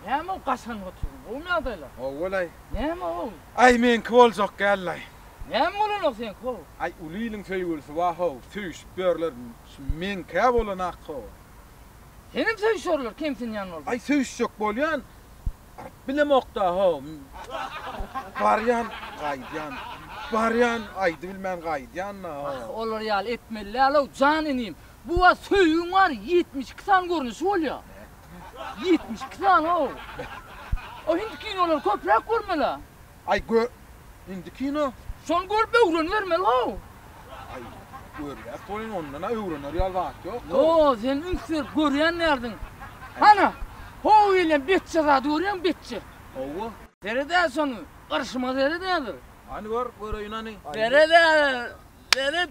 Näme ol gaşanyp oturyň? Gowymy ýagdaýlar? Gowy bolaý. Näme gowy? Aý, meňki boljak dälil-aý. Näme bolanok seňki gowy? Aý, uly iliň söýgülisi bar-how, söýüşip ýörler. Şu meňki-ä bolanok gowy. Senem söýüşerler, kemsinýän bolsaň. Aý, söýüşjek bolýan, baryp bilemok-da-how. Barýan, gaýdýan, barýan, aýdybilmän gaýdýan-da-how. Ah, olar ýaly etmeli däl-ow, jan inim. Bu wagt söýgiň bary ýetmiş iki sany görnüşi bolýa. Ýetmiş iki sany-ow. O hindi kinolary köpräk görmel-ä. Aý gö hindi kino. Şony görüp öwrenibermeli-how. Aý görýäs welin ondan-a öwrener ýaly zat ýok. Ýo, sen üns berip görýän däldiň. Hany, how gelýän betje zady görýäňmi, betje? Hawa. Seret-ä şony, gyrşyma seret-ä bir. Hany gör, göreýin hany. Seret-ä, seret.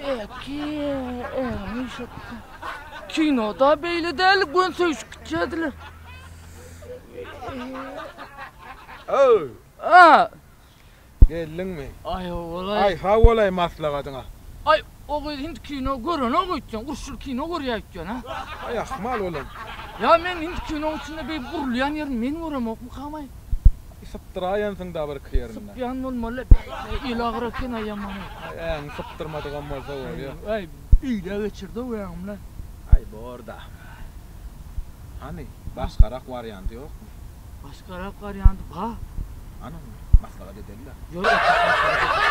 Eki egni şutda. Kinoda beýle däl, gön söýüşip gitýärdiler. Öw! A! Geldiňmi? Aý, ogulaý. Aý, sag bolaý maslagatyňa. Aý, o gyz hindi kino görenok öýtýän, uruşly kino görýär öýtýän, a? Aý, ahmal olam. Ýa men hindi kinoň içinde beýik urulýan ýerini men göremokmykam, aý? Sypdyraýansyň-da birki ýerini. Sypýan bolmaly-la bäh-be, el agyr eken-aý ýamany. Aý, äňi sypdyrmadygam bolsa bolýa. Aý, öýdä geçirdi-ow äňim-le. Aý, bor-da. Hany, başgarak warianty ýokmy? Başgarak warianty bar. Hany, maslahat edeli-le. Ýör, otur, maslahat edeli.